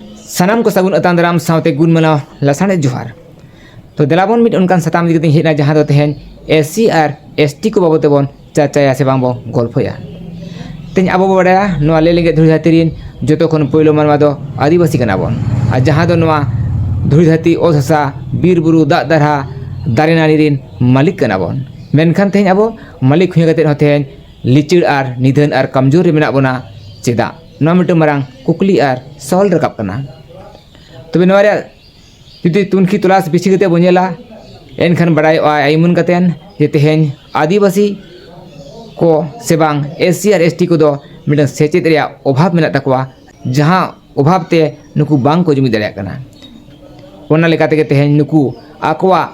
ᱥᱟᱱᱟᱢ ᱠᱚ ᱥᱟᱹᱜᱩᱱ ᱟᱛᱟᱝ ᱫᱟᱨᱟᱢ ᱥᱟᱶᱛᱮ ᱜᱩᱱ ᱢᱟᱱᱟᱣ ᱞᱟᱥᱟᱬᱮ ᱡᱚᱦᱟᱨ ᱛᱚ ᱫᱮᱞᱟᱵᱚᱱ ᱢᱤᱫ ᱚᱱᱠᱟᱱ ᱥᱟᱛᱟᱢ ᱤᱫᱤ ᱠᱟᱛᱮᱧ ᱦᱮᱡ ᱮᱱᱟ ᱡᱟᱦᱟᱸ ᱫᱚ ᱛᱮᱦᱮᱧ ᱮᱥ ᱥᱤ ᱟᱨ ᱮᱥ ᱴᱤ ᱠᱚ ᱵᱟᱵᱚᱫ ᱛᱮᱵᱚᱱ ᱪᱟᱨᱪᱟᱭᱟ ᱥᱮ ᱵᱟᱝ ᱵᱚᱱ ᱜᱚᱞᱯᱷᱚᱭᱟ ᱛᱮᱦᱮᱧ ᱟᱵᱚ ᱵᱚ ᱵᱟᱲᱟᱭᱟ ᱱᱚᱣᱟ ᱞᱮ ᱞᱮᱸᱜᱮᱡ ᱫᱷᱩᱲᱤ ᱫᱷᱟᱹᱨᱛᱤ ᱨᱤᱱ ᱡᱚᱛᱚ ᱠᱷᱚᱱ ᱯᱳᱭᱞᱳ ᱢᱟᱱᱣᱟ ᱫᱚ ᱟᱹᱫᱤᱵᱟᱹᱥᱤ ᱠᱟᱱᱟ ᱵᱚᱱ ᱟᱨ ᱡᱟᱦᱟᱸ ᱫᱚ ᱱᱚᱣᱟ ᱫᱷᱩᱲᱤ ᱫᱷᱟᱹᱨᱛᱤ ᱚᱛ ᱦᱟᱥᱟ ᱵᱤᱨ ᱵᱩᱨᱩ ᱫᱟᱜ ᱫᱟᱨᱦᱟ ᱫᱟᱨᱮ ᱱᱟᱹᱲᱤ ᱨᱤᱱ ᱢᱟᱹᱞᱤᱠ ᱠᱟᱱᱟ ᱵᱚᱱ ᱢᱮᱱᱠᱷᱟᱱ ᱛᱮᱦᱮᱧ ᱟᱵᱚ ᱢᱟᱹᱞᱤᱠ ᱦᱩᱭ ᱠᱟᱛᱮ ᱦᱚᱸ ᱛᱮᱦᱮᱧ ᱞᱤᱪᱟᱹᱲ ᱟᱨ ᱱᱤᱫᱷᱟᱹᱱ ᱟᱨ ᱠᱚᱢᱡᱳᱨ ᱨᱮ ᱢᱮᱱᱟᱜ ᱵᱚᱱᱟ ᱪᱮᱫᱟᱜ ᱱᱚᱣᱟ ᱢᱤᱫᱴᱟᱝ ᱢᱟᱨᱟᱝ ᱠᱩᱠᱞᱤ ᱟᱨ ᱥᱚᱦᱚᱞ ᱨᱟᱠᱟᱵ ᱠᱟᱱᱟ ᱛᱚᱵᱮ ᱱᱚᱣᱟ ᱨᱮᱭᱟᱜ ᱡᱩᱫᱤ ᱛᱩᱱᱠᱷᱤ ᱛᱚᱞᱟᱥ ᱵᱮᱥᱤ ᱠᱟᱛᱮ ᱵᱚᱱ ᱧᱮᱞᱟ ᱮᱱᱠᱷᱟᱱ ᱵᱟᱲᱟᱭᱚᱜᱼᱟ ᱮᱢᱚᱱ ᱠᱟᱛᱮ ᱡᱮ ᱛᱮᱦᱮᱧ ᱟᱹᱫᱤᱵᱟᱹᱥᱤ ᱠᱚ ᱥᱮ ᱵᱟᱝ ᱮᱥᱥᱤ ᱟᱨ ᱮᱥᱴᱤ ᱠᱚᱫᱚ ᱢᱤᱫᱴᱟᱝ ᱥᱮᱪᱮᱫ ᱨᱮᱭᱟᱜ ᱚᱵᱷᱟᱵᱽ ᱢᱮᱱᱟᱜ ᱛᱟᱠᱚᱣᱟ ᱡᱟᱦᱟᱸ ᱚᱵᱷᱟᱵᱽ ᱛᱮ ᱱᱩᱠᱩ ᱵᱟᱝ ᱠᱚ ᱡᱩᱢᱤᱫ ᱫᱟᱲᱮᱭᱟᱜ ᱠᱟᱱᱟ ᱚᱱᱟ ᱞᱮᱠᱟ ᱛᱮᱜᱮ ᱛᱮᱦᱮᱧ ᱱᱩᱠᱩ ᱟᱠᱚᱣᱟᱜ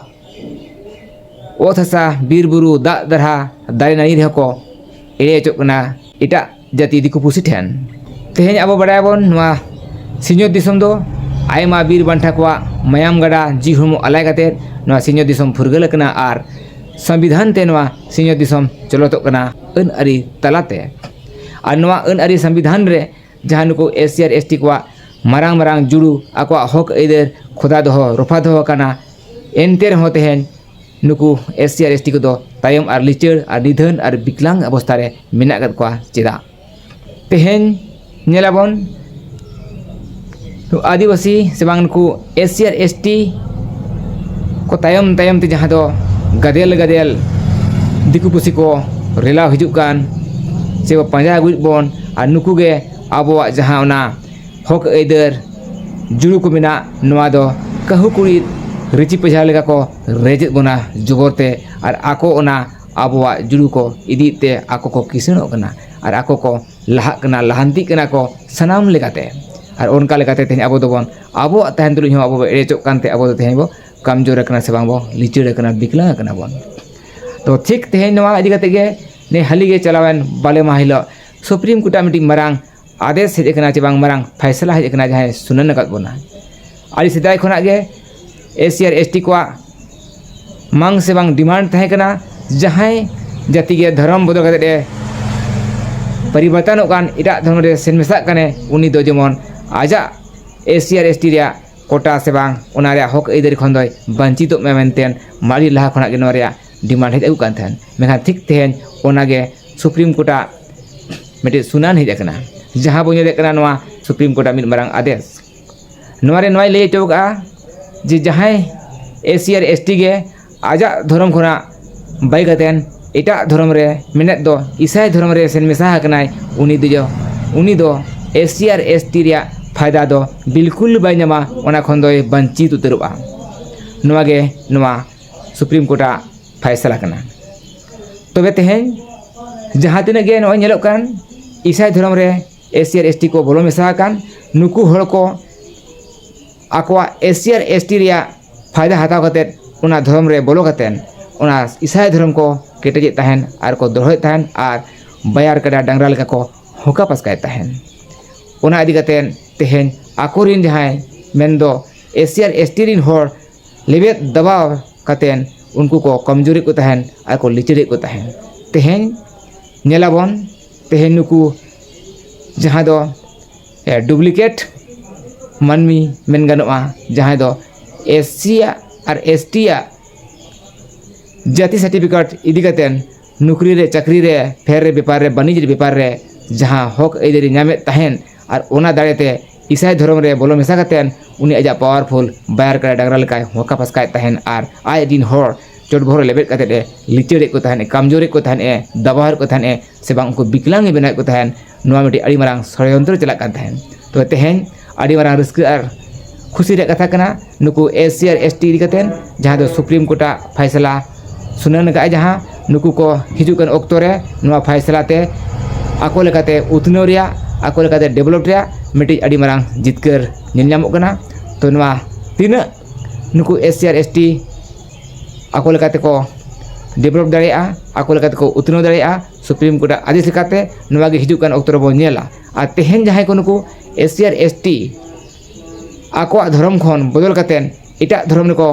ᱚᱛ ᱦᱟᱥᱟ ᱵᱤᱨ ᱵᱩᱨᱩ ᱫᱟᱜ ᱫᱟᱨᱦᱟ ᱫᱟᱨᱮ ᱱᱟᱹᱲᱤ ᱨᱮᱦᱚᱸ ᱠᱚ ᱮᱲᱮ ᱦᱚᱪᱚᱜ ᱠᱟᱱᱟ ᱮᱴᱟᱜ ᱡᱟᱹᱛᱤ ᱫᱤᱠᱩ ᱯᱩᱥᱤ ᱴᱷᱮᱱ ᱛᱮᱦᱮᱧ ᱟᱵᱚ ᱵᱟᱲᱟᱭᱟᱵᱚᱱ ᱱᱚᱣᱟ ᱥᱤᱧᱚᱛ ᱫᱤᱥᱚᱢ ᱫᱚ ᱟᱭᱢᱟ ᱵᱤᱨ ᱵᱟᱱᱴᱟ ᱠᱚᱣᱟᱜ ᱢᱟᱭᱟᱢ ᱜᱟᱰᱟ ᱡᱤᱣᱤ ᱦᱚᱲᱢᱚ ᱟᱞᱟᱭ ᱠᱟᱛᱮᱫ ᱱᱚᱣᱟ ᱥᱤᱧᱚᱛ ᱫᱤᱥᱚᱢ ᱯᱷᱩᱨᱜᱟᱹᱞ ᱟᱠᱟᱱᱟ ᱟᱨ ᱥᱚᱝᱵᱤᱫᱷᱟᱱ ᱛᱮ ᱱᱚᱣᱟ ᱥᱤᱧᱚᱛ ᱫᱤᱥᱚᱢ ᱪᱚᱞᱚᱛᱚᱜ ᱠᱟᱱᱟ ᱟᱹᱱ ᱟᱹᱨᱤ ᱛᱟᱞᱟᱛᱮ ᱟᱨ ᱱᱚᱣᱟ ᱟᱹᱱ ᱟᱹᱨᱤ ᱥᱚᱝᱵᱤᱫᱷᱟᱱ ᱨᱮ ᱡᱟᱦᱟᱸ ᱱᱩᱠᱩ ᱮᱥ ᱥᱤ ᱟᱨ ᱮᱥ ᱴᱤ ᱠᱚᱣᱟᱜ ᱢᱟᱨᱟᱝ ᱢᱟᱨᱟᱝ ᱡᱩᱲᱩ ᱟᱠᱚᱣᱟᱜ ᱦᱚᱸᱠ ᱟᱹᱭᱫᱟᱹᱨ ᱠᱷᱚᱫᱟ ᱫᱚᱦᱚ ᱨᱚᱯᱷᱟ ᱫᱚᱦᱚ ᱟᱠᱟᱱᱟ ᱮᱱᱛᱮ ᱨᱮᱦᱚᱸ ᱛᱮᱦᱮᱧ ᱱᱩᱠᱩ ᱮᱥ ᱥᱤ ᱟᱨ ᱮᱥ ᱴᱤ ᱠᱚᱫᱚ ᱛᱟᱭᱚᱢ ᱟᱨ ᱞᱤᱪᱟᱹᱲ ᱟᱨ ᱱᱤᱫᱷᱟᱹᱱ ᱟᱨ ᱵᱤᱠᱞᱟᱝ ᱚᱵᱚᱥᱛᱟ ᱨᱮ ᱢᱮᱱᱟᱜ ᱟᱠᱟᱫ ᱠᱚᱣᱟ ᱪᱮᱫᱟᱜ ᱛᱮᱦᱮᱧ ᱧᱮᱞ ᱟᱵᱚᱱ ᱟᱹᱫᱤᱵᱟᱹᱥᱤ ᱥᱮ ᱵᱟᱝ ᱱᱩᱠᱩ ᱮᱥ ᱥᱤ ᱟᱨ ᱮᱥ ᱴᱤ ᱠᱚ ᱛᱟᱭᱚᱢ ᱛᱟᱭᱚᱢ ᱛᱮ ᱡᱟᱦᱟᱸ ᱫᱚ ᱜᱟᱫᱮᱞ ᱜᱟᱫᱮᱞ ᱫᱤᱠᱩ ᱯᱩᱥᱤ ᱠᱚ ᱨᱮᱞᱟᱣ ᱦᱤᱡᱩᱜ ᱠᱟᱱ ᱥᱮ ᱠᱚ ᱯᱟᱸᱡᱟ ᱟᱹᱜᱩᱭᱮᱫ ᱵᱚᱱ ᱟᱨ ᱱᱩᱠᱩ ᱜᱮ ᱟᱵᱚᱣᱟᱜ ᱡᱟᱦᱟᱸ ᱚᱱᱟ ᱦᱚᱸᱠ ᱟᱹᱭᱫᱟᱹᱨ ᱡᱩᱲᱩ ᱠᱚ ᱢᱮᱱᱟᱜ ᱱᱚᱣᱟ ᱫᱚ ᱠᱟᱹᱦᱩ ᱠᱩᱲᱤᱫ ᱨᱤᱪᱤ ᱯᱟᱡᱷᱟᱲ ᱞᱮᱠᱟ ᱠᱚ ᱨᱮᱡᱮᱫ ᱵᱚᱱᱟ ᱡᱚᱵᱚᱨ ᱛᱮ ᱟᱨ ᱟᱠᱚ ᱚᱱᱟ ᱟᱵᱚᱣᱟᱜ ᱡᱩᱲᱩ ᱠᱚ ᱤᱫᱤᱭᱮᱫ ᱛᱮ ᱟᱠᱚ ᱠᱚ ᱠᱤᱥᱟᱹᱬᱚᱜ ᱠᱟᱱᱟ ᱟᱨ ᱟᱠᱚ ᱠᱚ ᱞᱟᱦᱟᱜ ᱠᱟᱱᱟ ᱞᱟᱦᱟᱱᱛᱤᱜ ᱠᱟᱱᱟ ᱠᱚ ᱥᱟᱱᱟᱢ ᱞᱮᱠᱟᱛᱮ ᱟᱨ ᱚᱱᱠᱟ ᱞᱮᱠᱟᱛᱮ ᱛᱮᱦᱮᱧ ᱟᱵᱚ ᱫᱚᱵᱚᱱ ᱟᱵᱚᱣᱟᱜ ᱛᱟᱦᱮᱱ ᱛᱩᱞᱩᱡ ᱦᱚᱸ ᱟᱵᱚ ᱵᱚᱱ ᱮᱲᱮ ᱦᱚᱪᱚᱜ ᱠᱟᱱᱛᱮ ᱟᱵᱚ ᱫᱚ ᱛᱮᱦᱮᱧ ᱵᱚᱱ ᱠᱚᱢ ᱡᱳᱨ ᱠᱟᱱᱟ ᱥᱮ ᱵᱟᱝ ᱵᱚᱱ ᱞᱤᱪᱟᱹᱲ ᱠᱟᱱᱟ ᱵᱤᱠᱞᱟᱹ ᱠᱟᱱᱟ ᱵᱚᱱ ᱛᱚ ᱴᱷᱤᱠ ᱛᱮᱦᱮᱧ ᱱᱚᱣᱟ ᱤᱫᱤ ᱠᱟᱛᱮᱫ ᱜᱮ ᱱᱤᱭᱟᱹ ᱦᱟᱹᱞᱤᱜᱮ ᱪᱟᱞᱟᱣᱮᱱ ᱵᱟᱞᱮ ᱢᱟᱦᱟ ᱦᱤᱞᱳᱜ ᱥᱩᱯᱨᱤᱢ ᱠᱳᱨᱴᱟᱜ ᱢᱤᱫᱴᱤᱡ ᱢᱟᱨᱟᱝ ᱟᱫᱮᱥ ᱦᱮᱡ ᱟᱠᱟᱱᱟ ᱪᱮ ᱵᱟᱝ ᱢᱟᱨᱟᱝ ᱯᱷᱟᱭᱥᱟᱞᱟ ᱦᱮᱡ ᱟᱠᱟᱱᱟ ᱡᱟᱦᱟᱸᱭ ᱥᱩᱱᱟᱹᱱ ᱟᱠᱟᱫ ᱵᱚᱱᱟ ᱟᱹᱰᱤ ᱥᱮᱫᱟᱭ ᱠᱷᱚᱱᱟᱜ ᱜᱮ ᱮᱥ ᱥᱤ ᱟᱨ ᱮᱥ ᱴᱤ ᱠᱚᱣᱟᱜ ᱢᱟᱝ ᱥᱮ ᱵᱟᱝ ᱰᱤᱢᱟᱱᱰ ᱛᱟᱦᱮᱸ ᱠᱟᱱᱟ ᱡᱟᱦᱟᱸᱭ ᱡᱟᱹᱛᱤ ᱜᱮ ᱫᱷᱚᱨᱚᱢ ᱵᱚᱫᱚᱞ ᱠᱟᱛᱮᱫ ᱮ ᱯᱚᱨᱤᱵᱚᱨᱛᱚᱱᱚᱜ ᱠᱟᱱ ᱮᱴᱟᱜ ᱫᱷᱚᱨᱚᱢ ᱨᱮ ᱥᱮᱱ ᱢᱮᱥᱟᱜ ᱠᱟᱱᱮ ᱩᱱᱤ ᱫᱚ ᱡᱮᱢᱚᱱ ᱟᱡᱟᱜ ᱮᱥ ᱥᱤ ᱟᱨ ᱮᱥ ᱴᱤ ᱨᱮᱭᱟᱜ ᱠᱳᱴᱟ ᱥᱮ ᱵᱟᱝ ᱚᱱᱟ ᱨᱮᱭᱟᱜ ᱦᱚᱸᱠ ᱟᱹᱭᱫᱟᱹᱨᱤ ᱠᱷᱚᱱ ᱫᱚᱭ ᱵᱟᱹᱧᱪᱤᱛᱚᱜ ᱢᱟ ᱢᱮᱱᱛᱮ ᱟᱹᱰᱤ ᱞᱟᱦᱟ ᱠᱷᱚᱱᱟᱜ ᱜᱮ ᱱᱚᱣᱟ ᱨᱮᱭᱟᱜ ᱰᱤᱢᱟᱱᱰ ᱦᱮᱡ ᱟᱹᱜᱩᱜ ᱠᱟᱱ ᱛᱟᱦᱮᱸᱫ ᱢᱮᱱᱠᱷᱟᱱ ᱴᱷᱤᱠ ᱛᱮᱦᱮᱧ ᱚᱱᱟᱜᱮ ᱥᱩᱯᱨᱤᱢ ᱠᱳᱨᱴᱟᱜ ᱢᱤᱫᱴᱤᱡ ᱥᱩᱱᱟᱱ ᱦᱮᱡ ᱟᱠᱟᱱᱟ ᱡᱟᱦᱟᱸ ᱵᱚᱱ ᱧᱮᱞᱮᱫ ᱠᱟᱱᱟ ᱱᱚᱣᱟ ᱥᱩᱯᱨᱤᱢ ᱠᱳᱨᱴᱟᱜ ᱢᱤᱫ ᱢᱟᱨᱟᱝ ᱟᱫᱮᱥ ᱱᱚᱣᱟᱨᱮ ᱱᱚᱣᱟᱭ ᱞᱟᱹᱭ ᱦᱚᱪᱚ ᱠᱟᱜᱼᱟ ᱡᱮ ᱡᱟᱦᱟᱸᱭ ᱮᱥᱤ ᱟᱨ ᱮᱥᱴᱤ ᱜᱮ ᱟᱡᱟᱜ ᱫᱷᱚᱨᱚᱢ ᱠᱷᱚᱱᱟᱜ ᱵᱟᱹᱜᱤ ᱠᱟᱛᱮᱫ ᱮᱴᱟᱜ ᱫᱷᱚᱨᱚᱢ ᱨᱮ ᱢᱮᱱᱮᱫ ᱫᱚ ᱤᱥᱟᱹᱭ ᱫᱷᱚᱨᱚᱢ ᱨᱮ ᱥᱮᱱ ᱢᱮᱥᱟ ᱟᱠᱟᱱᱟᱭ ᱩᱱᱤ ᱫᱚ ᱩᱱᱤ ᱫᱚ ᱮᱥᱤ ᱟᱨ ᱮᱥᱴᱤ ᱨᱮᱭᱟᱜ ᱯᱷᱟᱭᱫᱟ ᱫᱚ ᱵᱤᱞᱠᱩᱞ ᱵᱟᱭ ᱧᱟᱢᱟ ᱚᱱᱟ ᱠᱷᱚᱱ ᱫᱚᱭ ᱵᱟᱧᱪᱤᱛ ᱩᱛᱟᱹᱨᱚᱜᱼᱟ ᱱᱚᱣᱟᱜᱮ ᱱᱚᱣᱟ ᱥᱩᱯᱨᱤᱢ ᱠᱳᱨᱴᱟᱜ ᱯᱷᱟᱭᱥᱟᱞᱟ ᱠᱟᱱᱟ ᱛᱚᱵᱮ ᱛᱮᱦᱮᱧ ᱡᱟᱦᱟᱸ ᱛᱤᱱᱟᱹᱜ ᱜᱮ ᱱᱚᱜᱼᱚᱭ ᱧᱮᱞᱚᱜ ᱠᱟᱱ ᱤᱥᱟᱭ ᱫᱷᱚᱨᱚᱢ ᱨᱮ ᱮᱥ ᱥᱤ ᱟᱨ ᱮᱥ ᱴᱤ ᱠᱚ ᱵᱚᱞᱚ ᱢᱮᱥᱟ ᱟᱠᱟᱱ ᱱᱩᱠᱩ ᱦᱚᱲ ᱠᱚ ᱟᱠᱚᱣᱟᱜ ᱮᱥ ᱥᱤ ᱟᱨ ᱮᱥ ᱴᱤ ᱨᱮᱭᱟᱜ ᱯᱷᱟᱭᱫᱟ ᱦᱟᱛᱟᱣ ᱠᱟᱛᱮᱫ ᱚᱱᱟ ᱫᱷᱚᱨᱚᱢ ᱨᱮ ᱵᱚᱞᱚ ᱠᱟᱛᱮᱫ ᱚᱱᱟ ᱤᱥᱟᱭ ᱫᱷᱚᱨᱚᱢ ᱠᱚ ᱠᱮᱴᱮᱡᱮᱫ ᱛᱟᱦᱮᱱ ᱟᱨ ᱠᱚ ᱫᱚᱦᱚᱭᱮᱫ ᱛᱟᱦᱮᱱ ᱟᱨ ᱵᱟᱭᱟᱨ ᱠᱟᱰᱟ ᱰᱟᱝᱨᱟ ᱞᱮᱠᱟ ᱠᱚ ᱦᱚᱠᱟ ᱯᱟᱥᱠᱟᱭᱮᱫ ᱛᱟᱦᱮᱱ ᱚᱱᱟ ᱤᱫᱤ ᱠᱟᱛᱮᱫ ᱛᱮᱦᱮᱧ ᱟᱠᱚ ᱨᱮᱱ ᱡᱟᱦᱟᱸᱭ ᱢᱮᱱᱫᱚ ᱮᱥ ᱥᱤ ᱟᱨ ᱮᱥ ᱴᱤ ᱨᱮᱱ ᱦᱚᱲ ᱞᱮᱵᱮᱫ ᱫᱟᱵᱟᱣ ᱠᱟᱛᱮ ᱩᱱᱠᱩ ᱠᱚ ᱠᱚᱢᱡᱩᱨᱤ ᱠᱚ ᱛᱟᱦᱮᱱ ᱟᱨ ᱠᱚ ᱞᱤᱪᱟᱹᱲᱮᱫ ᱠᱚ ᱛᱟᱦᱮᱱ ᱛᱮᱦᱮᱧ ᱧᱮᱞ ᱟᱵᱚᱱ ᱛᱮᱦᱮᱧ ᱱᱩᱠᱩ ᱡᱟᱦᱟᱸᱭ ᱫᱚ ᱰᱩᱵᱽᱞᱤᱠᱮᱴ ᱢᱟᱹᱱᱢᱤ ᱢᱮᱱ ᱜᱟᱱᱚᱜᱼᱟ ᱡᱟᱦᱟᱸᱭ ᱫᱚ ᱮᱥ ᱥᱤ ᱟᱜ ᱟᱨ ᱮᱥ ᱴᱤ ᱟᱜ ᱡᱟᱹᱛᱤ ᱥᱟᱨᱴᱤᱯᱷᱤᱠᱮᱴ ᱤᱫᱤ ᱠᱟᱛᱮ ᱱᱩᱠᱨᱤ ᱨᱮ ᱪᱟᱹᱠᱨᱤ ᱨᱮ ᱯᱷᱮᱨ ᱨᱮ ᱵᱮᱯᱟᱨ ᱨᱮ ᱵᱟᱹᱱᱤᱡᱽ ᱵᱮᱯᱟᱨ ᱨᱮ ᱡᱟᱦᱟᱸ ᱦᱚᱸᱠ ᱟᱹᱭᱫᱟᱹᱨᱤ ᱧᱟᱢᱮᱫ ᱛᱟᱦᱮᱱ ᱟᱨ ᱚᱱᱟ ᱫᱟᱲᱮ ᱛᱮ ᱤᱥᱟᱭ ᱫᱷᱚᱨᱚᱢ ᱨᱮ ᱵᱚᱞᱚ ᱢᱮᱥᱟ ᱠᱟᱛᱮ ᱩᱱᱤ ᱟᱡᱟᱜ ᱯᱟᱣᱟᱨᱯᱷᱩᱞ ᱵᱟᱭᱟᱨ ᱠᱟᱰᱟ ᱰᱟᱝᱨᱟ ᱞᱮᱠᱟᱭ ᱦᱚᱸᱠᱟ ᱯᱟᱥᱠᱟᱭᱮᱫ ᱛᱟᱦᱮᱱ ᱟᱨ ᱟᱡ ᱨᱮᱱ ᱦᱚᱲ ᱪᱚᱴ ᱵᱚᱦᱚᱜ ᱨᱮ ᱞᱮᱵᱮᱫ ᱠᱟᱛᱮ ᱮ ᱞᱤᱪᱟᱹᱲᱮᱫ ᱠᱚ ᱛᱟᱦᱮᱱᱮ ᱠᱟᱢᱡᱳᱨᱮᱫ ᱠᱚ ᱛᱟᱦᱮᱱᱮ ᱫᱟᱵᱟᱣᱮᱫ ᱠᱚ ᱛᱟᱦᱮᱱᱮ ᱥᱮ ᱵᱟᱝ ᱩᱱᱠᱩ ᱵᱤᱠᱞᱟᱝᱜᱽ ᱮ ᱵᱮᱱᱟᱣᱮᱫ ᱠᱚ ᱛᱟᱦᱮᱱ ᱱᱚᱣᱟ ᱢᱤᱫᱴᱤᱡ ᱟᱹᱰᱤ ᱢᱟᱨᱟᱝ ᱥᱚᱲᱭᱚᱱᱛᱨᱚ ᱪᱟᱞᱟᱜ ᱠᱟᱱ ᱛᱟᱦᱮᱱ ᱛᱚᱵᱮ ᱛᱮᱦᱮᱧ ᱟᱹᱰᱤ ᱢᱟᱨᱟᱝ ᱨᱟᱹᱥᱠᱟᱹ ᱟᱨ ᱠᱷᱩᱥᱤ ᱨᱮᱭᱟᱜ ᱠᱟᱛᱷᱟ ᱠᱟᱱᱟ ᱱᱩᱠᱩ ᱮᱥ ᱥᱤ ᱟᱨ ᱮᱥ ᱴᱤ ᱤᱫᱤ ᱠᱟᱛᱮᱫ ᱡᱟᱦᱟᱸ ᱫᱚ ᱥᱩᱯᱨᱤᱢ ᱠᱳᱨᱴᱟᱜ ᱯᱷᱚᱭᱥᱟᱞᱟ ᱥᱩᱱᱟᱹᱱ ᱠᱟᱜ ᱟᱭ ᱡᱟᱦᱟᱸ ᱱᱩᱠᱩ ᱠᱚ ᱦᱤᱡᱩᱜ ᱠᱟᱱ ᱚᱠᱛᱚ ᱨᱮ ᱱᱚᱣᱟ ᱯᱷᱚᱭᱥᱟᱞᱟ ᱛᱮ ᱟᱠᱚ ᱞᱮᱠᱟᱛᱮ ᱩᱛᱱᱟᱹᱣ ᱨᱮᱭᱟᱜ ᱟᱠᱚ ᱞᱮᱠᱟᱛᱮ ᱰᱮᱵᱷᱞᱚᱯ ᱨᱮᱭᱟᱜ ᱢᱤᱫᱴᱤᱡ ᱟᱹᱰᱤ ᱢᱟᱨᱟᱝ ᱡᱤᱛᱠᱟᱹᱨ ᱧᱮᱞ ᱧᱟᱢᱚᱜ ᱠᱟᱱᱟ ᱛᱳ ᱱᱚᱣᱟ ᱛᱤᱱᱟᱹᱜ ᱱᱩᱠᱩ ᱮᱥ ᱥᱤ ᱟᱨ ᱮᱥ ᱴᱤ ᱟᱠᱚ ᱞᱮᱠᱟ ᱛᱮᱠᱚ ᱰᱮᱵᱷᱞᱚᱯ ᱫᱟᱲᱮᱭᱟᱜᱼᱟ ᱟᱠᱚ ᱞᱮᱠᱟ ᱛᱮᱠᱚ ᱩᱛᱱᱟᱹᱣ ᱫᱟᱲᱮᱭᱟᱜᱼᱟ ᱥᱩᱯᱨᱤᱢ ᱠᱳᱨᱴᱟᱜ ᱟᱹᱫᱤᱥ ᱞᱮᱠᱟᱛᱮ ᱱᱚᱣᱟᱜᱮ ᱦᱤᱡᱩᱜ ᱠᱟᱱ ᱚᱠᱛᱚ ᱨᱮᱵᱚᱱ ᱧᱮᱞᱟ ᱟᱨ ᱛᱮᱦᱮᱧ ᱡᱟᱦᱟᱸᱭ ᱠᱚ ᱱᱩᱠᱩ ᱮᱥ ᱥᱤ ᱟᱨ ᱮᱥ ᱴᱤ ᱟᱠᱚᱣᱟᱜ ᱫᱷᱚᱨᱚᱢ ᱠᱷᱚᱱ ᱵᱚᱫᱚᱞ ᱠᱟᱛᱮ ᱮᱴᱟᱜ ᱫᱷᱚᱨᱚᱢ ᱨᱮᱠᱚ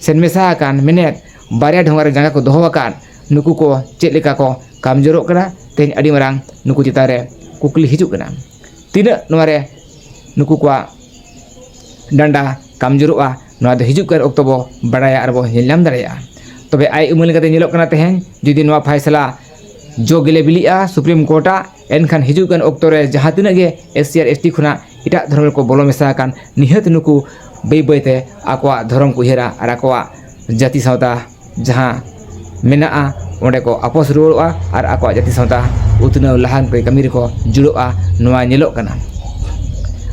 ᱥᱮᱱ ᱢᱮᱥᱟ ᱟᱠᱟᱱ ᱢᱮᱱᱮᱛ ᱵᱟᱨᱭᱟ ᱰᱷᱚᱸᱜᱟ ᱨᱮ ᱡᱟᱸᱜᱟ ᱠᱚ ᱫᱚᱦᱚ ᱟᱠᱟᱫ ᱱᱩᱠᱩ ᱠᱚ ᱪᱮᱫ ᱞᱮᱠᱟ ᱠᱚ ᱠᱟᱢ ᱡᱳᱨᱳᱜ ᱠᱟᱱᱟ ᱛᱮᱦᱮᱧ ᱟᱹᱰᱤ ᱢᱟᱨᱟᱝ ᱱᱩᱠᱩ ᱪᱮᱛᱟᱱ ᱨᱮ ᱠᱩᱠᱞᱤ ᱦᱤᱡᱩᱜ ᱠᱟᱱᱟ ᱛᱤᱱᱟᱹᱜ ᱱᱚᱣᱟ ᱨᱮ ᱱᱩᱠᱩ ᱠᱚᱣᱟᱜ ᱰᱟᱱᱰᱟ ᱠᱟᱢ ᱡᱳᱨᱳᱜᱼᱟ ᱱᱚᱣᱟ ᱫᱚ ᱦᱤᱡᱩᱜ ᱠᱟᱱ ᱚᱠᱛᱚ ᱵᱚ ᱵᱟᱲᱟᱭᱟ ᱟᱨ ᱵᱚ ᱧᱮᱞ ᱧᱟᱢ ᱫᱟᱲᱮᱭᱟᱜᱼᱟ ᱛᱚᱵᱮ ᱟᱡ ᱩᱢᱟᱹᱱ ᱞᱮᱠᱟᱛᱮ ᱧᱮᱞᱚᱜ ᱠᱟᱱᱟ ᱛᱮᱦᱮᱧ ᱡᱩᱫᱤ ᱱᱚᱣᱟ ᱯᱷᱚᱭᱥᱟᱞᱟ ᱡᱚ ᱜᱮᱞᱮ ᱵᱤᱞᱤᱜᱼᱟ ᱥᱩᱯᱨᱤᱢ ᱠᱳᱨᱴᱟᱜ ᱮᱱᱠᱷᱟᱱ ᱦᱤᱡᱩᱜ ᱠᱟᱱ ᱚᱠᱛᱚ ᱨᱮ ᱡᱟᱦᱟᱸ ᱛᱤᱱᱟᱹᱜ ᱜᱮ ᱮᱥ ᱥᱤ ᱟᱨ ᱮᱥ ᱴᱤ ᱠᱷᱚᱱᱟᱜ ᱮᱴᱟᱜ ᱫᱷᱚᱨᱚᱢ ᱨᱮᱠᱚ ᱵᱚᱞᱚ ᱢᱮᱥᱟ ᱟᱠᱟᱱ ᱱᱤᱦᱟᱹᱛ ᱱᱩᱠᱩ ᱵᱟᱹᱭ ᱵᱟᱹᱭ ᱛᱮ ᱟᱠᱚᱣᱟᱜ ᱫᱷᱚᱨᱚᱢ ᱠᱚ ᱩᱭᱦᱟᱹᱨᱟ ᱟᱨ ᱟᱠᱚᱣᱟᱜ ᱡᱟᱹᱛᱤ ᱥᱟᱶᱛᱟ ᱡᱟᱦᱟᱸ ᱢᱮᱱᱟᱜᱼᱟ ᱚᱸᱰᱮ ᱠᱚ ᱟᱯᱟᱥ ᱨᱩᱣᱟᱹᱲᱚᱜᱼᱟ ᱟᱨ ᱟᱠᱚᱣᱟᱜ ᱡᱟᱹᱛᱤ ᱥᱟᱶᱛᱟ ᱩᱛᱱᱟᱹᱣ ᱞᱟᱦᱟᱱᱛᱤ ᱠᱟᱹᱢᱤ ᱨᱮᱠᱚ ᱡᱩᱲᱟᱹᱜᱼᱟ ᱱᱚᱣᱟ ᱧᱮᱞᱚᱜ ᱠᱟᱱᱟ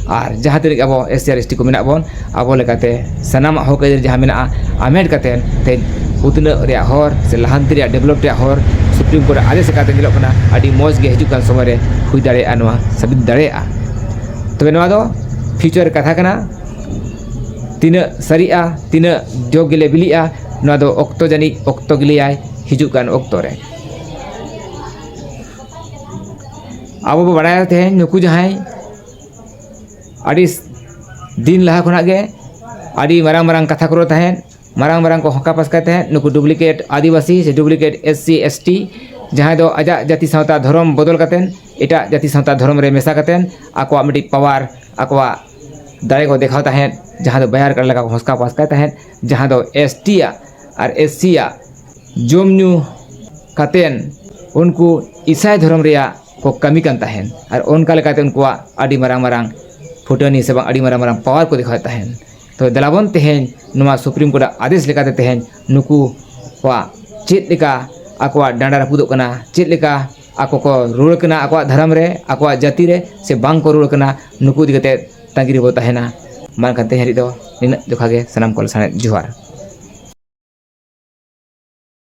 ᱟᱨ ᱡᱟᱦᱟᱸ ᱛᱤᱱᱟᱹᱜ ᱟᱵᱚ ᱮᱥ ᱥᱤ ᱟᱨ ᱮᱥ ᱴᱤ ᱠᱚ ᱢᱮᱱᱟᱜ ᱵᱚᱱ ᱟᱵᱚ ᱞᱮᱠᱟᱛᱮ ᱥᱟᱱᱟᱢᱟᱜ ᱦᱚᱸᱠ ᱟᱹᱭᱫᱟᱹᱨ ᱡᱟᱦᱟᱸ ᱢᱮᱱᱟᱜᱼᱟ ᱦᱟᱢᱮᱴ ᱠᱟᱛᱮ ᱛᱮᱦᱮᱧ ᱩᱛᱱᱟᱹᱜ ᱨᱮᱭᱟᱜ ᱦᱚᱨ ᱥᱮ ᱞᱟᱦᱟᱱᱛᱤ ᱨᱮᱭᱟᱜ ᱰᱮᱵᱷᱞᱚᱯ ᱨᱮᱭᱟᱜ ᱦᱚᱨ ᱥᱩᱯᱨᱤᱢ ᱠᱳᱨᱴ ᱟᱜ ᱟᱫᱮᱥ ᱞᱮᱠᱟᱛᱮ ᱧᱮᱞᱚᱜ ᱠᱟᱱᱟ ᱟᱹᱰᱤ ᱢᱚᱡᱽ ᱜᱮ ᱦᱤᱡᱩᱜ ᱠᱟᱱ ᱥᱚᱢᱚᱭ ᱨᱮ ᱦᱩᱭ ᱫᱟᱲᱮᱭᱟᱜᱼᱟ ᱱᱚᱣᱟ ᱥᱟᱹᱵᱩᱫ ᱫᱟᱲᱮᱭᱟᱜᱼᱟ ᱛᱚᱵᱮ ᱱᱚᱣᱟ ᱫᱚ ᱯᱷᱤᱭᱩᱪᱟᱨ ᱠᱟᱛᱷᱟ ᱠᱟᱱᱟ ᱛᱤᱱᱟᱹᱜ ᱥᱟᱹᱨᱤᱜᱼᱟ ᱛᱤᱱᱟᱹᱜ ᱡᱚ ᱜᱮᱞᱮ ᱵᱤᱞᱤᱜᱼᱟ ᱱᱚᱣᱟ ᱫᱚ ᱚᱠᱛᱚ ᱡᱟᱹᱱᱤᱡ ᱚᱠᱛᱚ ᱜᱮ ᱞᱟᱹᱭᱟᱭ ᱦᱤᱡᱩᱜ ᱠᱟᱱ ᱚᱠᱛᱚ ᱨᱮ ᱟᱵᱚ ᱵᱚᱱ ᱵᱟᱲᱟᱭᱟ ᱛᱮᱦᱮᱧ ᱱᱩᱠᱩ ᱡᱟᱦᱟᱸᱭ ᱟᱹᱰᱤ ᱫᱤᱱ ᱞᱟᱦᱟ ᱠᱷᱚᱱᱟᱜ ᱜᱮ ᱟᱹᱰᱤ ᱢᱟᱨᱟᱝ ᱢᱟᱨᱟᱝ ᱠᱟᱛᱷᱟ ᱠᱚ ᱨᱚᱲ ᱛᱟᱦᱮᱸᱫ ᱢᱟᱨᱟᱝ ᱢᱟᱨᱟᱝ ᱠᱚ ᱦᱟᱞᱠᱟ ᱯᱟᱥᱠᱟᱭ ᱛᱟᱦᱮᱸᱫ ᱱᱩᱠᱩ ᱰᱩᱵᱽᱞᱤᱠᱮᱴ ᱟᱹᱫᱤᱵᱟᱹᱥᱤ ᱥᱮ duplicate S C S T ᱡᱟᱦᱟᱸᱭ ᱫᱚ ᱟᱡᱟᱜ ᱡᱟᱹᱛᱤ ᱥᱟᱶᱛᱟ ᱫᱷᱚᱨᱚᱢ ᱵᱚᱫᱚᱞ ᱠᱟᱛᱮᱫ ᱮᱴᱟᱜ ᱡᱟᱹᱛᱤ ᱥᱟᱶᱛᱟ ᱫᱷᱚᱨᱚᱢ ᱨᱮ ᱢᱮᱥᱟ ᱠᱟᱛᱮᱫ ᱟᱠᱚᱣᱟᱜ ᱢᱤᱫᱴᱤᱡ ᱯᱟᱣᱟᱨ ᱟᱠᱚᱣᱟᱜ ᱫᱟᱲᱮ ᱠᱚ ᱫᱮᱠᱷᱟᱣ ᱛᱟᱦᱮᱸᱫ ᱡᱟᱦᱟᱸ ᱫᱚ ᱵᱟᱭᱟᱨ ᱠᱟᱰᱟ ᱞᱮᱠᱟ ᱠᱚ ᱦᱟᱞᱠᱟ ᱯᱟᱥᱠᱟᱭ ᱛᱟᱦᱮᱸᱫ ᱡᱟᱦᱟᱸ ᱫᱚ ᱮᱥ ᱴᱤ ᱭᱟᱜ ᱟᱨ ᱮᱥ ᱥᱤ ᱭᱟᱜ ᱡᱚᱢ ᱧᱩ ᱠᱟᱛᱮᱫ ᱩᱱᱠᱩ ᱤᱥᱟᱭ ᱫᱷᱚᱨᱚᱢ ᱨᱮᱭᱟᱜ ᱠᱚ ᱠᱟᱹᱢᱤ ᱠᱟᱱ ᱛᱟᱦᱮᱸᱫ ᱟᱨ ᱚᱱᱠᱟ ᱞᱮᱠᱟᱛᱮ ᱩᱱᱠᱩᱣᱟᱜ ᱟᱹᱰᱤ ᱢᱟᱨᱟᱝ ᱢᱟᱨᱟᱝ ᱯᱷᱩᱴᱟᱹᱱᱤ ᱥᱮ ᱵᱟᱝ ᱟᱹᱰᱤ ᱢᱟᱨᱟᱝ ᱢᱟᱨᱟᱝ ᱯᱟᱣᱟᱨ ᱠᱚ ᱫᱮᱠᱷᱟᱣᱮᱫ ᱛᱟᱦᱮᱸᱫ ᱛᱚ ᱫᱮᱞᱟ ᱵᱚᱱ ᱛᱮᱦᱮᱧ ᱱᱚᱣᱟ ᱥᱩᱯᱨᱤᱢ ᱠᱳᱨᱴ ᱟᱜ ᱟᱫᱮᱥ ᱞᱮᱠᱟᱛᱮ ᱛᱮᱦᱮᱧ ᱱᱩᱠᱩ ᱠᱚᱣᱟᱜ ᱪᱮᱫ ᱞᱮᱠᱟ ᱟᱠᱚᱣᱟᱜ ᱰᱟᱸᱰᱟ ᱨᱟᱹᱯᱩᱫᱚᱜ ᱠᱟᱱᱟ ᱪᱮᱫ ᱞᱮᱠᱟ ᱟᱠᱚ ᱠᱚ ᱨᱩᱣᱟᱹᱲ ᱠᱟᱱᱟ ᱟᱠᱚᱣᱟᱜ ᱫᱷᱚᱨᱚᱢ ᱨᱮ ᱟᱠᱚᱣᱟᱜ ᱡᱟᱹᱛᱤ ᱨᱮ ᱥᱮ ᱵᱟᱝ ᱠᱚ ᱨᱩᱣᱟᱹᱲ ᱠᱟᱱᱟ ᱱᱩᱠᱩ ᱤᱫᱤ ᱠᱟᱛᱮᱫ ᱛᱟᱺᱜᱤ ᱨᱮᱵᱚ ᱛᱟᱦᱮᱱᱟ ᱢᱟ ᱮᱱᱠᱷᱟᱱ ᱛᱮᱦᱮᱧ ᱞᱟᱹᱜᱤᱫ ᱫᱚ ᱱᱤᱱᱟᱹᱜ ᱡᱚᱠᱷᱟ ᱜᱮ ᱥᱟᱱᱟᱢ ᱠᱚ ᱞᱟᱥᱟᱬᱦᱮᱫ ᱡᱚᱦᱟᱨ